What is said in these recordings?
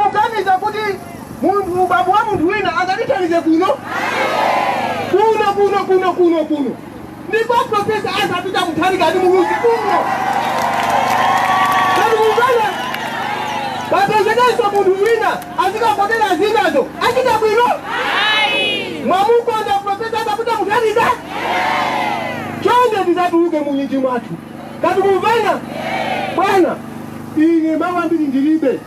Mukuganiza kuti munthu ubambo wa munthu wina angatithandize kuno? Kuno kuno kuno kuno kuno ndi kwa Profesa Arthur Peter Mutharika ndi Muluzi kuno. Kodi mukumva? Pasapezekenso munthu wina azikavotera zinazo achita bwino? Mwamukonda Profesa Arthur Peter Mutharika? Chonde tizatuluke mu nyinji mwathu. Kodi tamvana? Bwana, ine mawu ambiri ndilibe.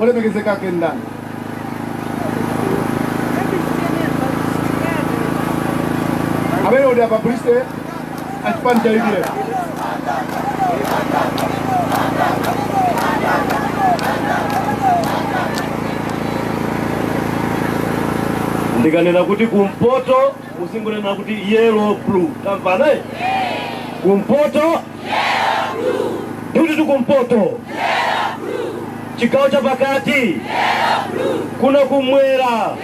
olemekezeka ake ndani amene ali apabulisite achipani cha udf ndikanena kuti kumpoto muzingonena kuti yellow blue tamvana kumpoto Kuti kumpoto chigawo cha pakati kuno kumwera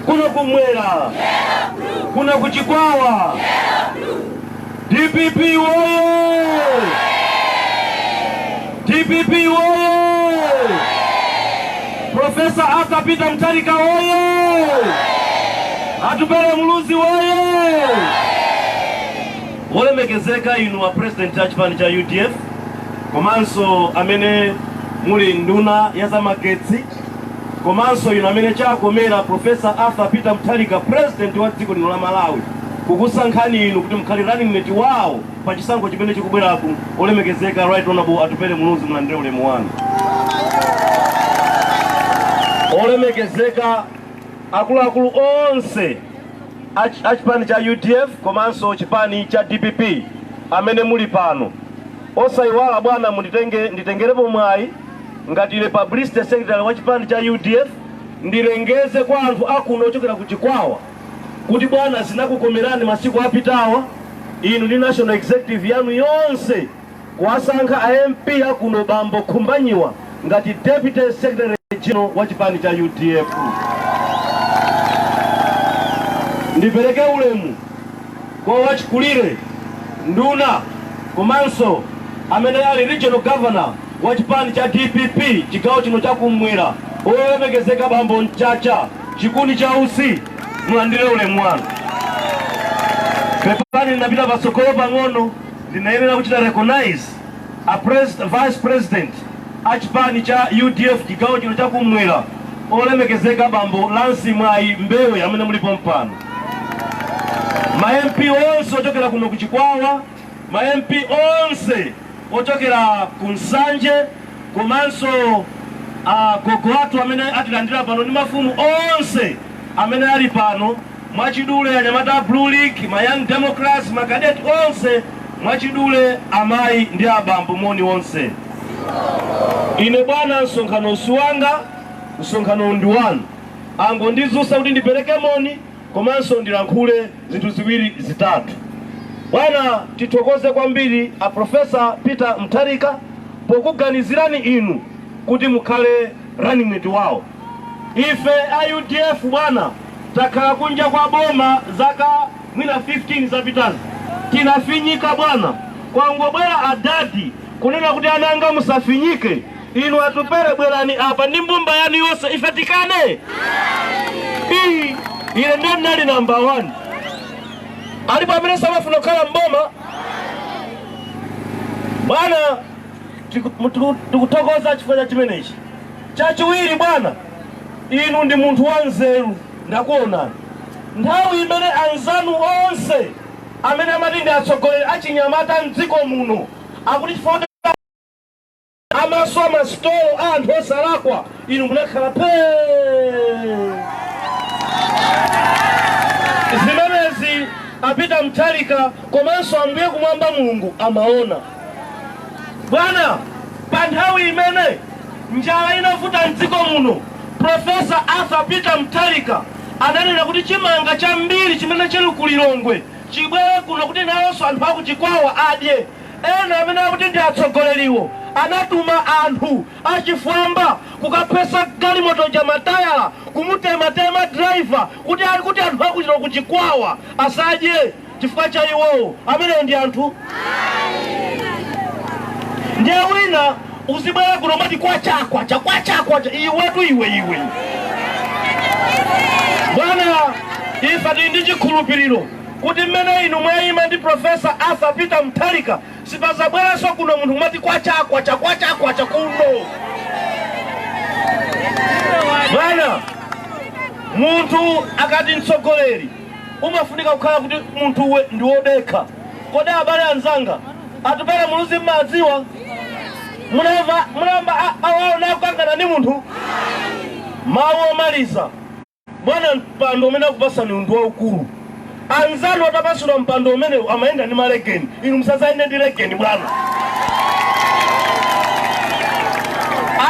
kuno kumwera kuno kuchikwawa DPP woye DPP woye Profesa Arthur Peter Mutharika woye Atupele Muluzi woye Olemekezeka inu a president a chipani cha udf komanso amene muli nduna ya zamagetsi komanso inu amene chakomera Professor Arthur Peter Mutharika president wa dziko lino la Malawi kukusankhani inu kuti mukhale running mate wawo pa chisankho chimene chikubweraku. Olemekezeka Right Honorable Atupele Muluzi, mulandire ulemu wanu. Olemekezeka akuluakulu onse a chipani cha udf komanso chipani cha dpp amene muli pano osayiwala bwana munditengerepo mwayi ngati ine publicity secretary wa chipani cha udf ndilengeze kwa anthu akuno ochokera ku chikwawa kuti bwana zinakukomerani masiku apitawa inu ndi national executive yanu yonse kuwasankha a MP a kuno bambo Khumbanyiwa ngati Deputy Secretary General wa chipani cha udf. Ndipereke ulemu kwa wachikulire nduna komanso amene ali Regional Governor wa chipani cha DPP chigawo chino cha kumwera olemekezeka bambo Mchacha chikuni cha utsi mulandire ulemu wanu. Pepani napita patsogolo pang'ono. ndinayenera kuchita recognize a vice president a chipani cha udf chigawo chino chakumwera olemekezeka bambo lance mwayi mbewe amene muli pompano ma mp onse ochokera kuno ku chikwawa ma mp onse ochokera ku nsanje komanso agogo athu amene atilandira pano ndi mafumu onse amene ali pano mwachidule anyamata a Blue League, ma Young Democrats, ma Cadet onse mwachidule amayi ndi abambo moni onse. Ine bwana msonkhanowu si wanga, msonkhanowu ndi wanu. Angondidzutsa kuti ndipereke moni komanso ndilankhule zinthu ziwiri zitatu. Bwana tithokoze kwambiri a Professor Peter Mutharika pokuganizirani inu kuti mukhale running mate wawo. Ife a udf bwana takhala kunja kwa boma zaka mwina 15 zapitazi tinafinyika bwana kwangobwera adadi kunena kuti ana anga musafinyike inu atupele bwerani apa ndi mbumba yanu yonse ife tikane iyi ine ndiye ndinali namba 1 alipo amene samafuna kukhala mboma bwana Tikuthokoza chifukwa cha chimenechi chachiwiri bwana inu ndi munthu wanzeru ndakuonani nthawi imene anzanu onse amene amati ndi atsogoleri achinyamata mdziko muno akuti chifukwa amaswa masitolo a anthu osalakwa inu munakhala pee zimenezi a peter mutharika komanso ambuye kumwamba mulungu amaona Bwana, pa nthawi imene njala inavuta mdziko muno, Profesa Arthur Peter Mutharika ananena kuti chimanga chambiri chimene chili ku Lilongwe chibwere kuno kuti nawonso anthu aku Chikwawa adye. Ena amene akuti ndi atsogoleriwo anatuma anthu achifwamba kukaphwetsa galimoto ja matayala kumutematema driver kuti ali kuti anthu aku Lilo- ku Chikwawa asadye. chifukwa cha iwowo amenewo ndi anthu ndiye wina uzibwera kuno kumati kwacha kwacha kwacha kwacha iwetu iwe iwe bwana ife tili ndi chikhulupiriro kuti mmene inu mwayima ndi profesa arthur peter mutharika sipazabweranso kuno munthu kumati kwacha kwacha kwacha kwacha kuno bwana munthu akati mtsogoleri umafunika kukhala kuti munthuwe ndi wodekha. Kodi abale anzanga, Atupele Muluzi mmadziwa? Muna- munayamba mwawaona akukangana ndi munthu? Mawu omaliza, bwana mpando umene akupasaniwu ndi waukulu. Anzanu atapasidwa mpando umenewu amayenda ndi malegeni, inu musadzayende ndi legeni bwana.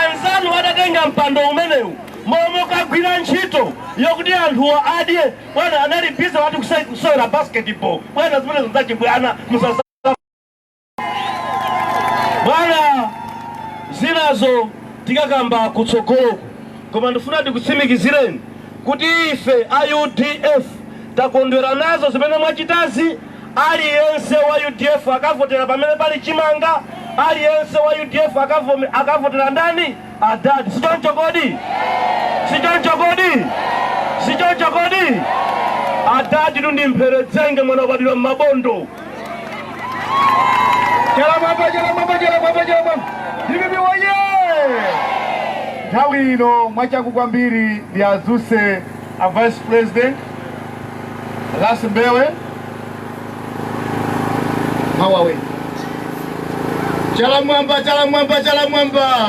anzanu atatenga mpando umenewu mmalo mokagwira ntchito yokuti anthuwo adye bwana anali bize ati kusai- kusewera basketball bwana zimenezo zachibwana musatsanze bwana zinazo tikakamba kutsogoloku koma ndifuna ndikutsimikizireni kuti ife a udf takondwera nazo zimene mwachitazi aliyense wa udf akavotera pamene pali chimanga aliyense wa udf akavome- akavotera ndani adadi sichoncho kodi sichoncho kodi sichoncho kodi adaditu ndi mpheredzenge mwana wabadwira m'mabondo chala mwamba chala mwamba chala mwamba chala mwamba dpp woye nthawi ino mwachangu kwambiri ndiadzutse a vice president Lasi Mbewe Mawawe chala mwamba chala mwamba chala mwamba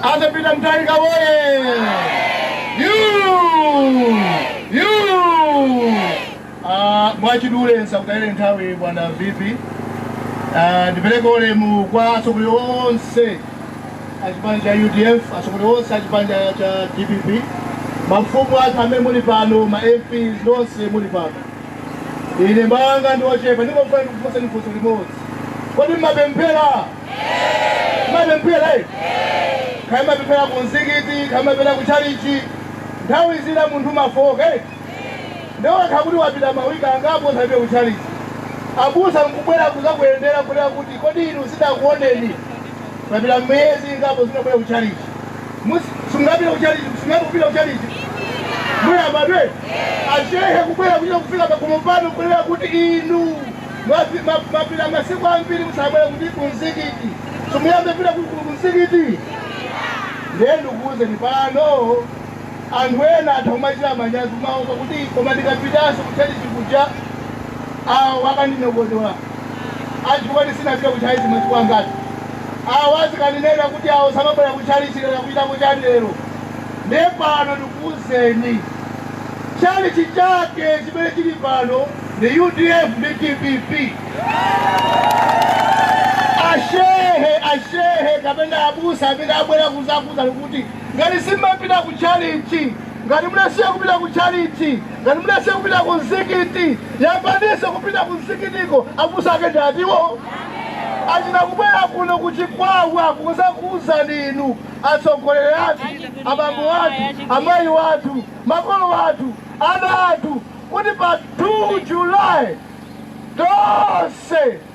Arthur Peter Mutharika woye you you Ah, mwachidule nsakutayireni nthawi bwana VP. Ah, ndipereke ulemu kwa atsogoleri onse a chipani cha UDF, atsogoleri onse a chipani cha- cha DPP, mafumu athu amene muli pano, ma MPs nonse muli pano. Ine mawu anga ndi ochepa, ndingofuna ndikufunseni funso limodzi. Kodi mmapemphera? Mmapemphera? eh? Kaya mmapemphera ku mzikiti, kaya mmapemphera ku chalichi, nthawi zina munthu mafoka. eh? ndiye wakhala kuti wapita ma week angapo usanapite ku chalichi abusa nkubwera kuzakuyendera kunena kuti kodi inu sitakuoneni papita miyezi ingapo simunabwere ku chalichi sungapita ku chalichi sungapo kupita ku chalichi muyambe ndiye ashehe kubwera kuchita kufika pakhomo pano kunena kuti inu mwapi- ma- mapita masiku ambiri musakubwera kuti kumzikiti muziyamba kupita ku- ku- kumzikiti ndiye ndikuwuzeni pano Anthu ena atha kumachita manyazi kumaopa kuti, Koma ndikapitanso kutchalitchi kuja, awo akandinyogodola chifukwa choti sinapite kutchalitchi miyezi ingati, awo azikandinena kuti, Awo samabwera kutchalitchi lero, akuchitako chani kutchalitchi lero? Ndiye pano ndikuuzeni, tchalitchi chake chimene chili pano ndi udf ndi dpp. A shehe, a shehe kapena abusa amene abwera kuzakuuzani kuti. Ngati simumapita ku tchalitchi, ngati munasiya kupita ku tchalitchi, ngati munasiya kupita ku mzikiti, yambaninso kupita ku mzikitiko. Abusa ake ndi atiwo? Achina kubwera kuno ku Chikwawa kuzakuuzani ninu, atsogoleri athu, abambo athu, amayi athu, makolo athu, ana athu kuti pa 2 July tonse.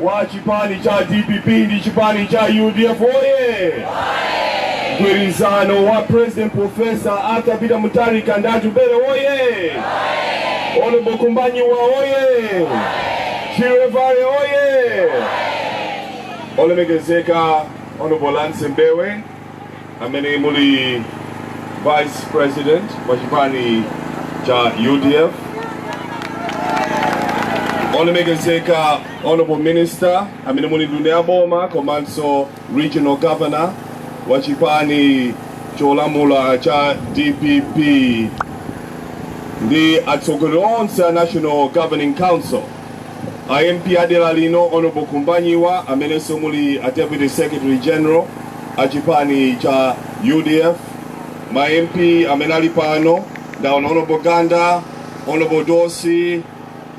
wa chipani cha dpp ndi chipani cha udf oye mgwirizano wa president profesa arthur peter mutharika ndi atupele oye honorable khumbanyiwa oye chirevare oye olemekezeka honorable lance mbewe amene muli vice president wa chipani cha udf olemekezeka honorable minister amene muli nduna ya boma komanso regional governor wa chipani cholamula cha dpp ndi atsogoleri onse a national governing council A MP a dera lino Hon Khumbanyiwa amenenso muli a Deputy Secretary General a chipani cha udf, ma MP amene ali pano ndaona Hon Ganda, Hon Dossi,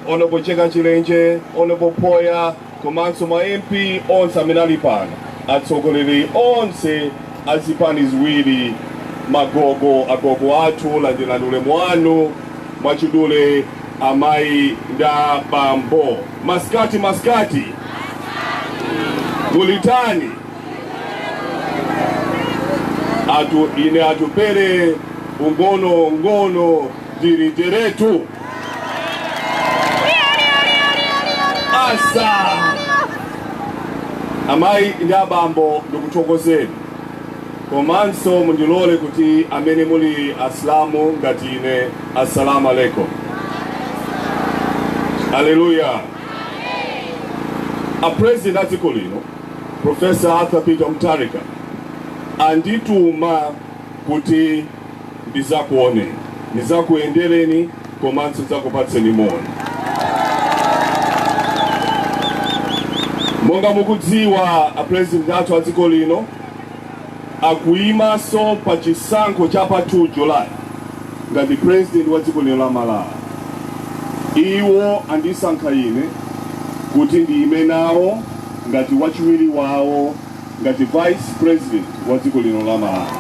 Hon Mcheka Chilenje, Hon Phoya komanso ma MP onse amene ali pano, atsogoleri onse a zipani ziwiri, magogo, agogo athu landirani ulemu wanu mwachidule. Amayi ndi abambo, masikati masikati, kulitani ine atupele ung'onong'ono diriteretu asa amayi ndi abambo ndikuthokozeni Komanso mundilole kuti amene muli Asilamu ngati ine As-Salam Alaikum. Aleluya! A President a dziko lino Prof. Arthur Peter Mutharika andituma kuti ndidzakuoneni, ndidzakuyendereni komanso ndidzakupatseni moni. Monga mukudziwa a President athu a dziko lino, akuyimanso pa chisankho cha pa 2 July ngati president wa dziko lino la Malawi. Iwo andisankha ine kuti ndiyime nawo ngati wachiwiri wawo ngati vice president wa dziko lino la Malawi.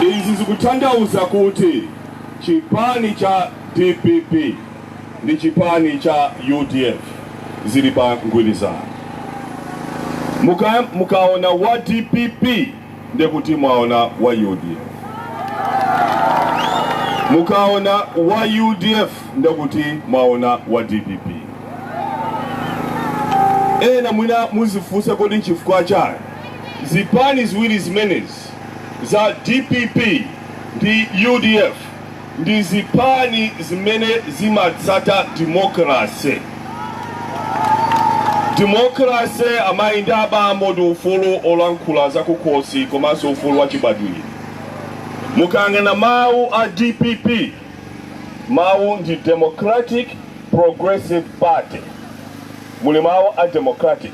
Izi zikutanthauza kuti chipani cha dpp ndi chipani cha udf zili pa mgwirizano. Mukaona wa dpp ndekuti mwaona wa udf. Mukaona wa udf ndekuti mwaona wa dpp. Ena mwina muzifunsa kodi nchifukwa chani zipani ziwiri zimenezi za dpp ndi udf ndi zipani zimene zimatsata demokrasi. Demokrasi, amayi ndi abambo, ndi ufulu olankhula zakukhosi komanso ufulu wachibadwidwe. Mukayang'ana mawu a dpp, mawu ndi Democratic Progressive Party, muli mawu a democratic.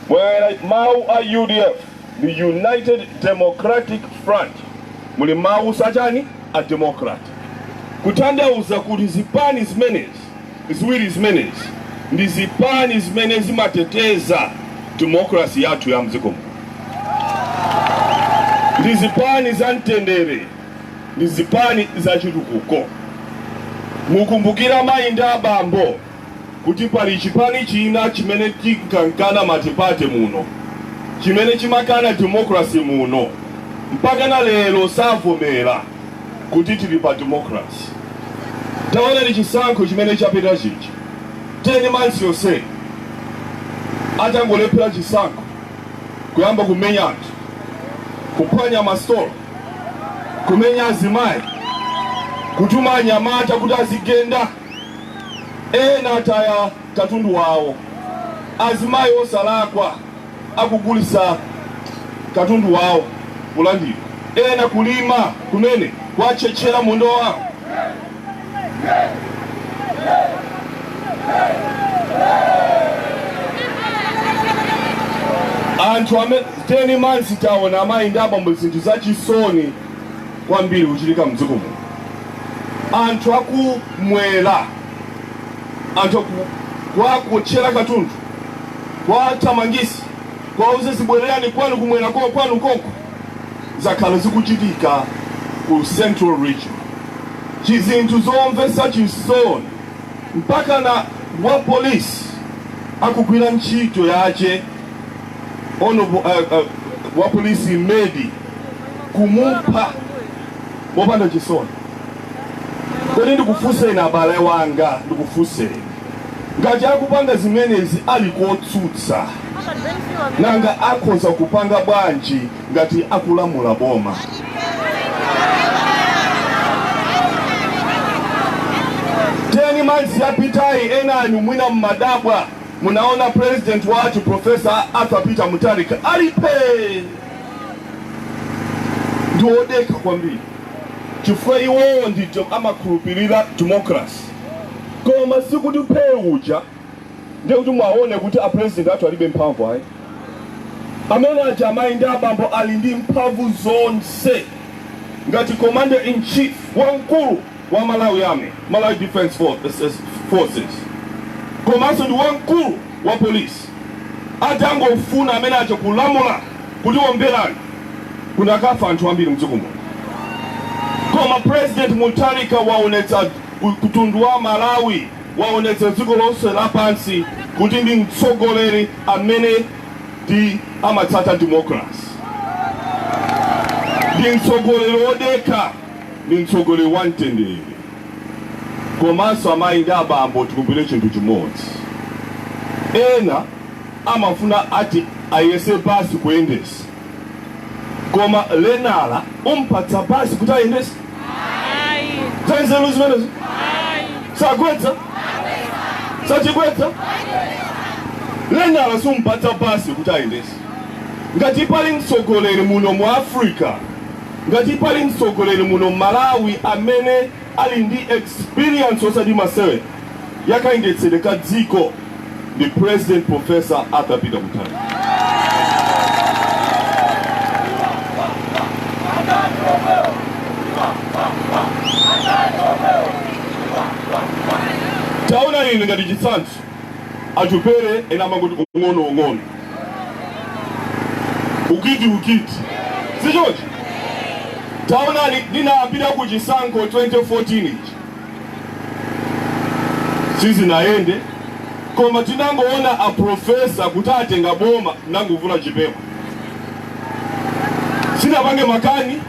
Mukayang'ana mawu a udf. the United Democratic Front muli mawu oti chani a Democrat kutanthauza kuti zipani zimenezi ziwiri zimenezi ndi zipani zimene zimateteza demokrasi yathu ya mdziko muno ndi zipani za mtendere ndi zipani za chitukuko mukumbukira mayi ndi abambo kuti pali chipani china chimene chinkakana matipate muno, chimene chimakana democracy muno, mpakana lero savomera kuti tili pa democracy. Taonani chisankho chimene chapita chija, 10 months yonse atangolephera chisankho, kuyamba kumenya anthu, kuphwanya masitolo, kumenya azimayi, kutuma anyamata kuti azigenda. Ena ataya katundu wawo, azimayi osalakwa akugulitsa katundu wawo kulandidwa, ena kulima kumene kwatchetchela munda wawo. Anthu amene 10 months taona amayi ndi abambo zinthu zachisoni. kwambiri kuchitika mdziko muno anthu akumwera anthu kuwaotchera katundu kuwathamangisa kuwauza zibwererani kwanu kumwera ko kwanu konko zakhala zikuchitika ku central region chizinthu zomvesa chisoni mpaka na wa polisi akugwira ntchito yache ono wapolisi Imedi kumupha mopanda chisoni kodi ndikufunseni abale wanga ndikufunseni ngati akupanga zimenezi ali kotsutsa nanga akhoza kupanga bwanji ngati akulamula boma teni months yapitayi enani mwina mmadabwa Munaona president wathu Professor Arthur Peter Mutharika ali phee ndi wodekha kwambiri chifukwa iwowo ndithu amakhulupirira democracy koma sikuti phee uja ndiye kuti mwaone kuti a president athu alibe mphamvu ayi amene aja amayi ndi abambo ali ndi mphamvu zonse ngati commander in chief wamkulu wa Malawi Army, Malawi Defence Forces, komanso ndi wamkulu wa polisi atangofuna amene aja kulamula kuti omberani kunakafa anthu ambiri mdziko muno koma president Mutharika waonetsa kumtundu wa Malawi waonetsa dziko lonse lapansi kuti ndi mtsogoleri amene ndi amatsata democracy ndi mtsogoleri wodekha ndi mtsogoleri wa mtendere komanso amayi ndi abambo tikumbukire chinthu chimodzi ena amafuna ati ayese basi kuyendetsa koma lenala umpatsa basi kuti ayendetse zanzeru zimenezo sagwetsa sayigwetsa lenala sumpatsa basi kuti ayendetse ngati pali mtsogoleri muno mu africa Ngati pali mtsogoleri muno mmalawi amene ali ndi experience osati masewera ya kayendetsedwe ka dziko ndi president professor Arthur Peter Mutharika. Taonani ine ngati chitsanzo. Atupele ena amangoti ung'ono ung'ono ukiti ukiti sichoncho taonani ndinapita ku chisankho 2014 ichi sizinayende koma tinangoona aprofesa kuti atenga boma nangovula chipewa sinapange makani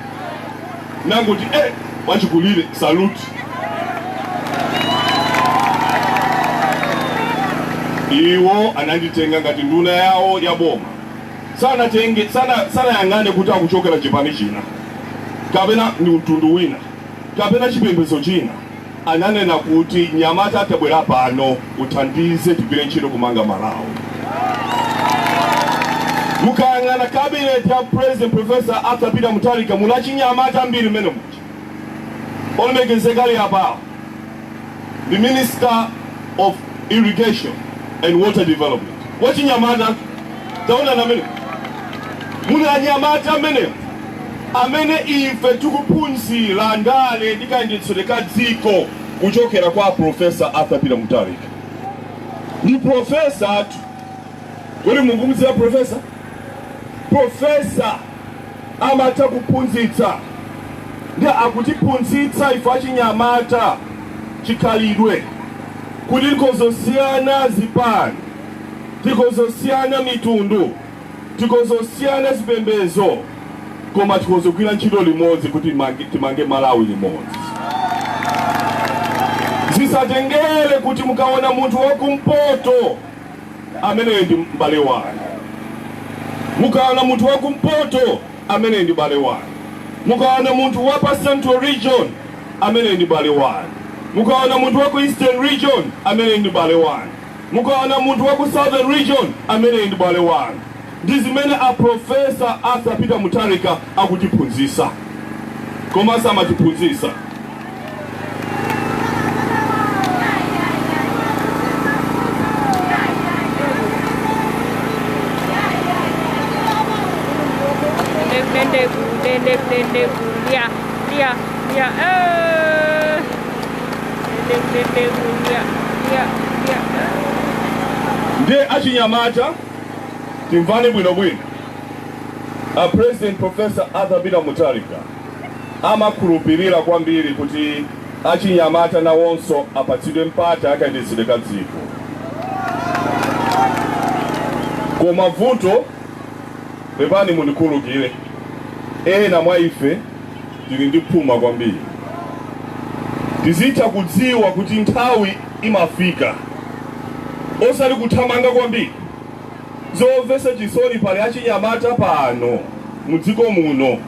nangoti e eh, wachikulire saluti iwo ananditenga ngati nduna yawo ya boma sanatenge sanayang'ane kuti akuchokera chipani china kapena ndi mtundu wina kapena chipembedzo china ananena kuti mnyamata tabwera pano uthandize tigwire ntchito kumanga malawi mukayang'ana cabinet ya president professor arthur peter mutharika muli achinyamata ambiri mmene muli olemekezeka ali apawo the minister of irrigation and water development wachinyamata taonani mmene muna anyamata amene amene ife tikuphunzira ndale ndi kayendetsedwe ka dziko kuchokera kwa Professor Arthur Peter Mutharika. Ndi professor athu. Kodi mukumudziwa professor? Professor amatha kuphunzitsa ndi akutiphunzitsa ife achinyamata chikhalidwe kuti tikhoza kusiyana zipani tikhoza kusiyana mitundu Tikhoza kusiyana zipembedzo koma tikhoza kugwira ntchito limodzi kuti timange Malawi limodzi. Zisatengere kuti mukaona munthu wa kumpoto ameneyo ndi m'bale wanu. Mukaona munthu wa kumpoto ameneyo ndi m'bale wanu. Mukaona munthu wa pa Central Region ameneyo ndi m'bale wanu. Mukaona munthu wa ku Eastern Region ameneyo ndi m'bale wanu. Mukaona munthu wa ku Southern Region ameneyi ndi m'bale wanu. Ndi zimene a Prof. Arthur Peter Mutharika akutiphunzitsa. Koma samatiphunzitsa. Ndiye achinyamata timvane bwino bwino a president Prof. Arthur Peter Mutharika amakhulupilira kwambiri kuti achinyamata nawonso apatsidwe mpata wa kayendetsedwe ka dziko koma vuto pepani mundikhululukire ena mwa ife tili ndi phuma kwambiri. Tizitha kudziwa kuti nthawi imafika osati kuthamanga kwambiri. Zomvetsa chisoni pali achinyamata pano mu dziko muno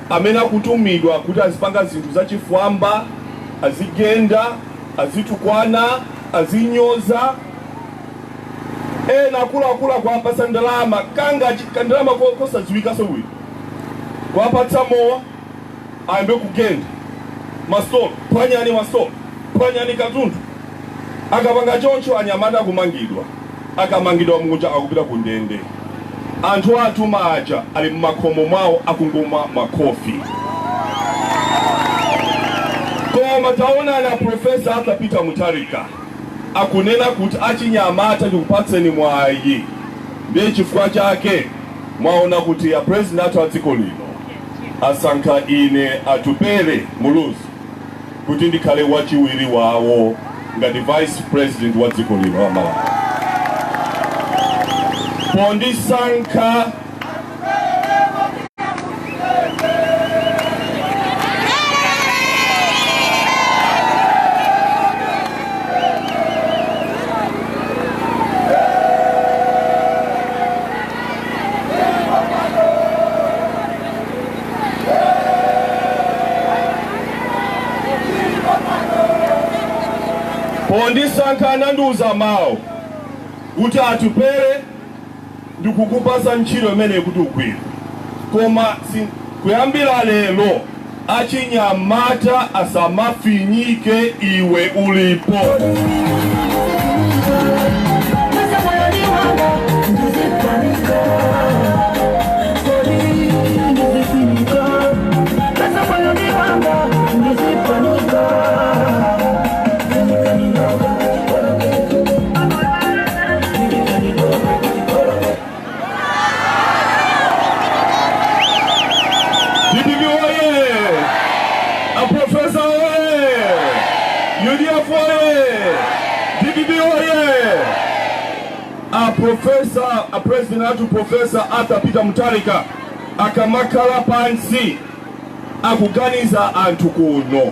amene akutumidwa kuti azipanga zinthu zachifwamba, azigenda, azitukwana, azinyoza ena, akuluakulu akuwapatsa ndalama, kangakandalama kosadziwikanso bwino. kuwapatsa mowa ayambe kugenda masitolo phwanyani masitolo phwanyani katundu akapanga choncho anyamata akumangidwa akamangidwa muja akupita ku ndende anthu awatuma aja ali mmakhomo mwawo akungomwa makofi koma taonani aprofesa arthur peter mutharika akunena kuti achinyamata ndikupatseni mwayi ndiye chifukwa chake Mwaona kuti a president athu a dziko lino asankha ine Atupele Muluzi kuti ndikhale wachiwiri wawo ngati vice president wa dziko lino la Malawi. Pondisankha Pondisankha anandiuza mawu kuti Atupele ndikukupasa ntchito imeneyi kuti ugwire koma kuyambira lero achinyamata asamafinyike iwe ulipo. DPP oye! Aprofesa oye! UDF oye! DPP oye! A profesa, a president athu profesa Arthur Peter Mutharika akamakhala pansi akuganiza anthu kuno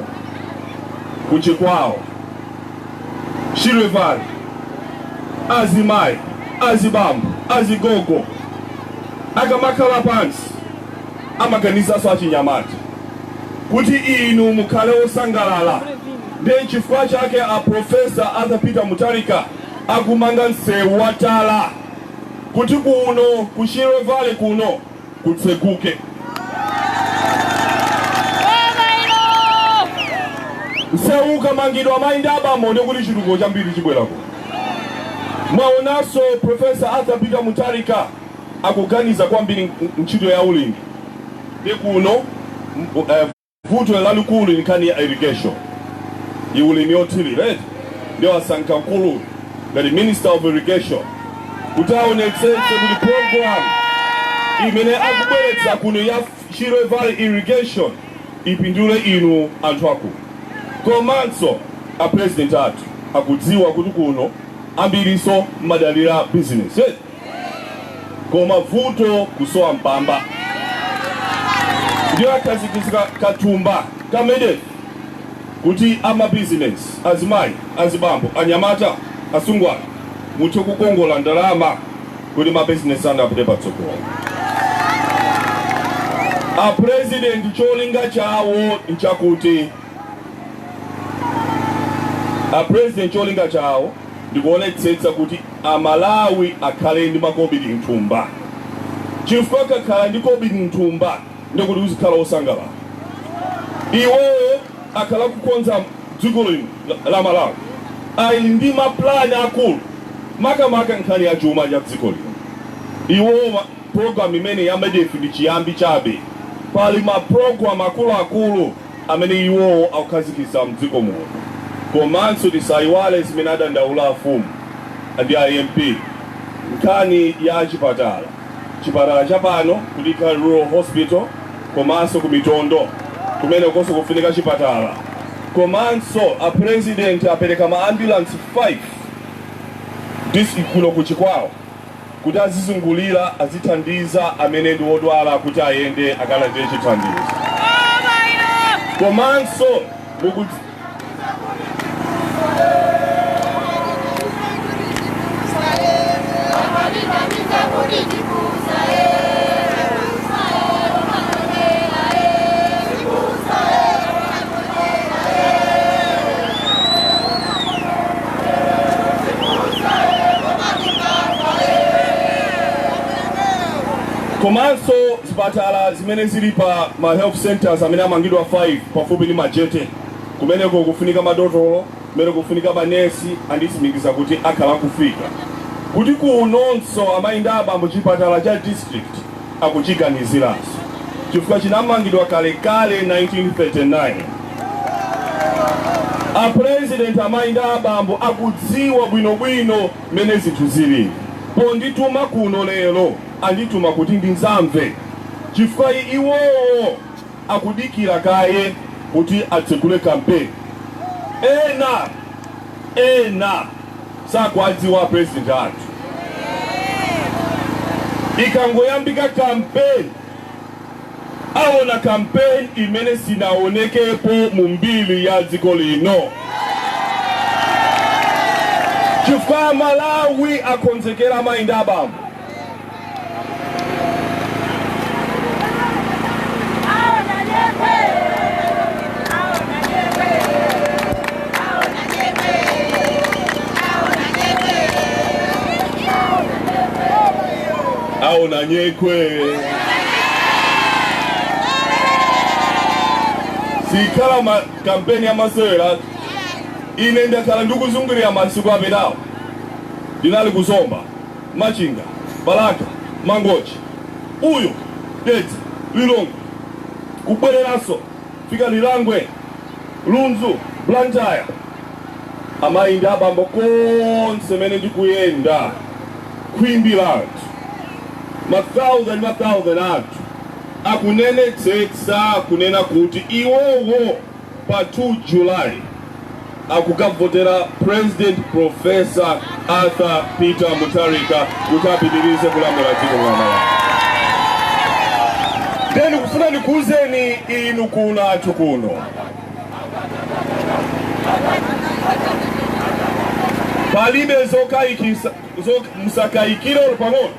ku Chikwawa Shire Valley azimayi azibambo azigogo akamakhala pansi amaganizanso achinyamata kuti inu mukhale osangalala ndiye nchifukwa chake a professor Arthur Peter Mutharika akumanga msewu wa tala kuti kuno ku Shire Valley kuno kutseguke msewu ukamangidwa mayi ndi abambo ndiye kuti chitukuko chambiri chibwerako mwaonanso profesa arthur peter mutharika akuganiza kwambiri ntchito ya ulimi ndi kuno Vuto lalikulu ndi nkhani ya irrigation ndi ulimi othilira eti nde wasankha mkulu uyu ngati minister of irrigation kuti aonetsetse kuti program imene akubweretsa kuno ya Shire Valley irrigation ipindule inu anthu akuno komanso a president athu akudziwa kuti kuno ambiriso mumadalira business eti koma vuto kusowa mpamba ndiye akhazikitsa kathumba ka MEDEF kuti amabizinesi azimayi azibambo anyamata asungwana muthe kukongola ndalama kuti mabizinesi anu apite patsogolo a president cholinga chawo nchakuti a president cholinga chawo ndikuonetsetsa kuti a Malawi akhale ndi makobili mthumba chifukwa ukakhala ndi kobili mthumba ndikuti uzikhala osangalala iwowo akhala kukonza dziko lino la Malawi ali ndi mapulani akulu makamaka nkhani ya chuma cha dziko lino iwowo program imene ya MEDEF ndi chiyambi chabe pali maprogram akuluakulu amene iwowo akukhazikitsa mdziko muno komanso tisaiwale zimene adandaula afumu ndi a MP nkhani ya chipatala, chipatala cha pano ku Dikhali Rural Hospital komanso ku Mitondo kumenekonso kufunika chipatala komanso a President apereka ma ambulance 5 dis kuno ku Chikwawa. kuti azizungulira azithandiza amene ndi odwala kuti ayende akalandire chithandizo komanso muku komanso zipatala zimene zili pa ma health centers amene amangidwa 5 pafupi ndi Majete kumeneko kufunika madotolo kumene kufunika manesi anditsimikiza kuti akhala kufika kuti kunonso amayi ndi abambo chipatala cha district akuchiganiziranso chifukwa chinamangidwa kalekale 1939. A President amayi ndi abambo akudziwa bwinobwino mmene zinthu zilili. Pondituma kuno lero andituma kuti ndidzamve chifukwa iwowo. akudikira kaye kuti atsegule campaign ena ena sakuwadziwa a president athu ikangoyambika campaign aona campaign imene sinaonekepo mu mbiri ya dziko lino chifukwa Amalawi akonzekera amayi ndi abambo aona nyekwe siikhala kampeni ya masewera ine ndakhala ndikuzungulira masiku apitawo ndinali ku Zomba Machinga, Balaka, Mangochi, uyo, Dedza, Lilongwe, kubwereranso kufika Lirangwe, Lunzu, Blantyre, amayi ndi abambo konse mene ndikuyenda khwimbi la anthu ma thousand ma thousand anthu akunenetsetsa kunena kuti iwowo pa 2 July akukavotera President Prof. Arthur Peter Mutharika kuti apitilize kulamula dziko lino la Malawi. Ndiye ndikufuna ndikuuzeni inu kwathu kuno palibe zokayikisa zok, musakayikire olo pang'ono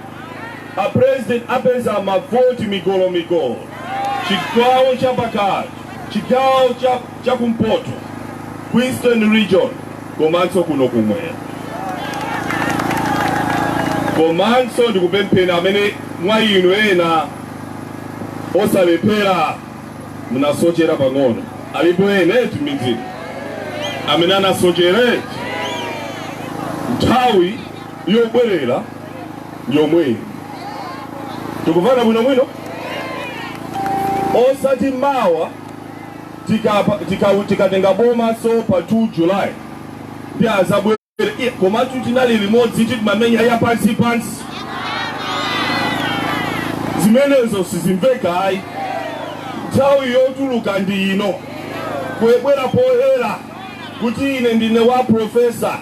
a president apeza mavoti migolo migolo chigawo chapakati chigawo cha kumpoto ku Eastern Region komanso kuno kumwera komanso ndikupempha amene mwa inu ena osalephera munasochera pang'ono alipo ena eti midzimu amene anasochera eti nthawi yobwerera ndi yomweyi tikumvana bwino bwino osati mawa tikapa- tika- tikatenga bomanso pa 2 july ndiye azabwere komatu tinali limodzi timamenya ya pansi pansi zimenezo sizimveka ayi nthawi yotuluka ndi ino yobwera poyera kuti ine ndine wa profesa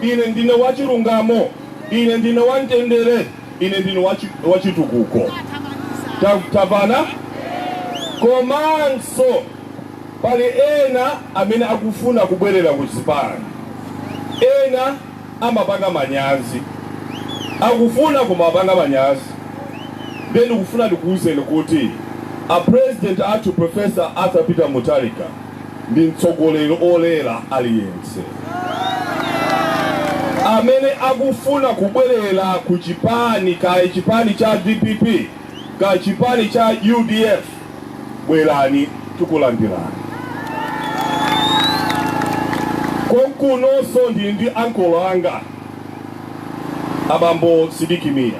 Ine ndine wachilungamo, ine ndine wamtendere, ine ndine wachitukuko. Tamvana komanso pali ena amene akufuna kubwerera ku zipani, ena amapanga manyazi, akufuna kumapanga manyazi. Ndiye ndikufuna ndikuwuzeni kuti a president athu Professor Arthur Peter Mutharika ndi mtsogoleri olera aliyense amene akufuna kubwerera ku chipani kaya chipani cha dpp kaya chipani cha udf bwerani tikulandirani konkunonso ndili ndi ankolo anga abambo Sidik Mia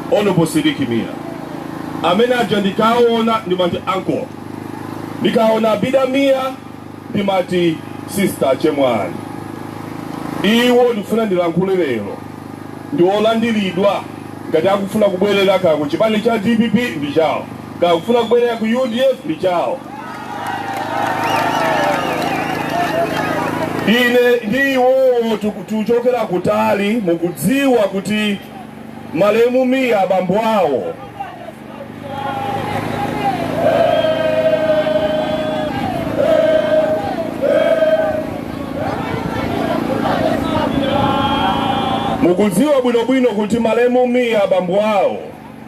honorable Sidik Mia amene aja ndikaona ndimati ankolo Ndikaona Abida Mia ndimati sister chemwali iwo ndikufuna ndilankhule lero ndi olandiridwa ngati akufuna kubwerera kaya ku chipani cha dpp ndi chawo kaya akufuna kubwerera ku udf ndi chawo ine ndi iwowo tiku- tikuchokera kutali mukudziwa kuti malemu Mia abambo awo mukudziwa bwinobwino kuti malemu Mia abambo awo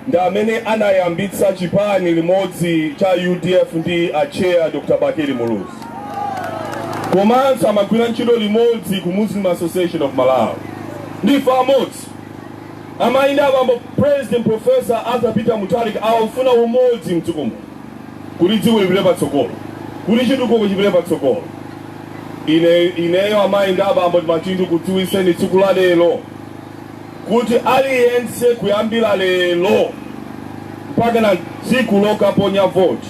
ndi amene anayambitsa chipani limodzi cha udf ndi acheya dr bakili muluzi komanso amagwira ntchito limodzi ku muslim association of malawi ndife amodzi Amayi ndi abambo President Prof. Arthur Peter Mutharika akufuna umodzi mdziko muno kuti dziko lipite patsogolo, kuti chitukuko chipite patsogolo. Ineyo amayi ndi abambo ndimati ndikudziwitseni tsiku la lero kuti aliyense kuyambira lero mpakana tsiku lokaponya voti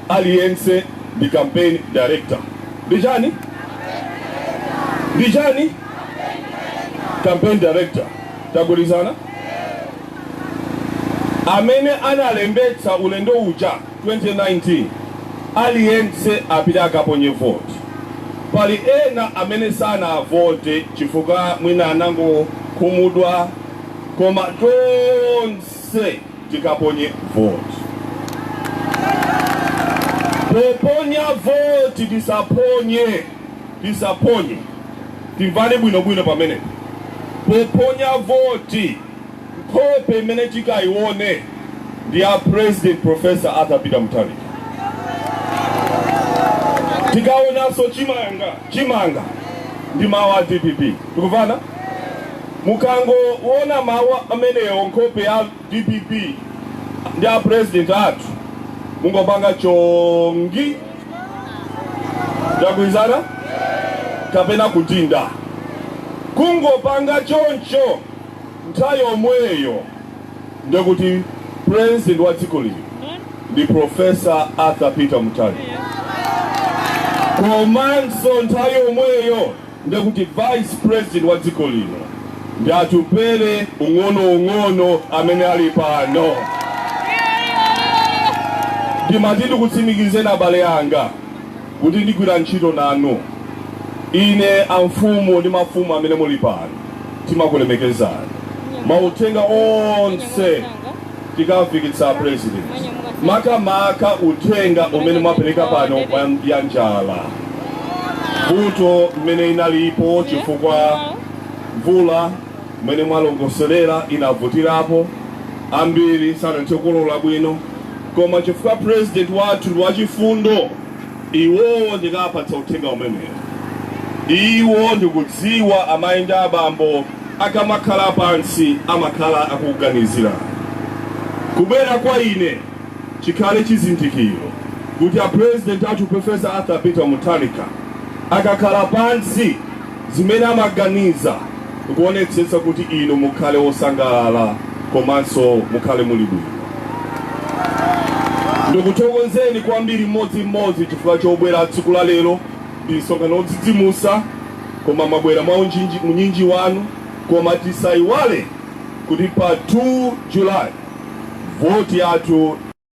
aliyense ndi Campaign Director. Ndi chani? Ndi chani? campaign director tagwirizana amene analembetsa ulendo uja 2019 aliyense apite akaponye vote pali ena amene sanavote chifukwa mwina anangokhumudwa koma tonse tikaponye vote poponya vote tisaphonye Tisaponye, timvane bwinobwino pamene poponya voti, nkhope imene tikayione ndi ya President Prof. Arthur Peter Mutharika. Tikaonanso chimanga ndi mawu a dpp. Tikumvana? Mukangoona mawu amenewo, nkhope ya. Dpp ndi a president athu mungopanga chongi ndagwirizana kapena kudinda kungopanga choncho nthawi yomweyo ndekuti president wa dziko lino ndi professor arthur peter mutharika komanso nthawi yomweyo nde kuti vice president wa dziko lino ndi Atupele ung'onoung'ono amene ali pano. Ndimati ndikutsimikizeni abale anga kuti ndigwira ntchito nanu. Ine amfumu ndi mafumu amene muli pano timakulemekezani. Mauthenga onse tikafikitsa president makamaka uthenga umene mwapereka pano ya njala vuto mmene inalipo chifukwa mvula mmene mwalongosolera inavutirapo ambiri sanathe kukolola bwino koma chifukwa president wathu ndi wachifundo iwowo ndikapatsa uthenga umenewo iwo ndikudziwa amayi ndi abambo akamakhala pansi amakhala akuganizira. Kubwera kwa ine chikhale chizindikiro kuti a President athu Prof. Arthur Peter Mutharika akakhala pansi zimene amaganiza ndikuonetsetsa kuti inu mukhale osangalala komanso mukhale muli bwino. Ndikuthokozeni kwambiri mmodzi mmodzi chifukwa chobwera tsiku la lero. Ndi msonkhano odzidzimutsa koma mwabwera mwa unyinji unyinji wanu koma tisaiwale kuti pa 2 July vote yathu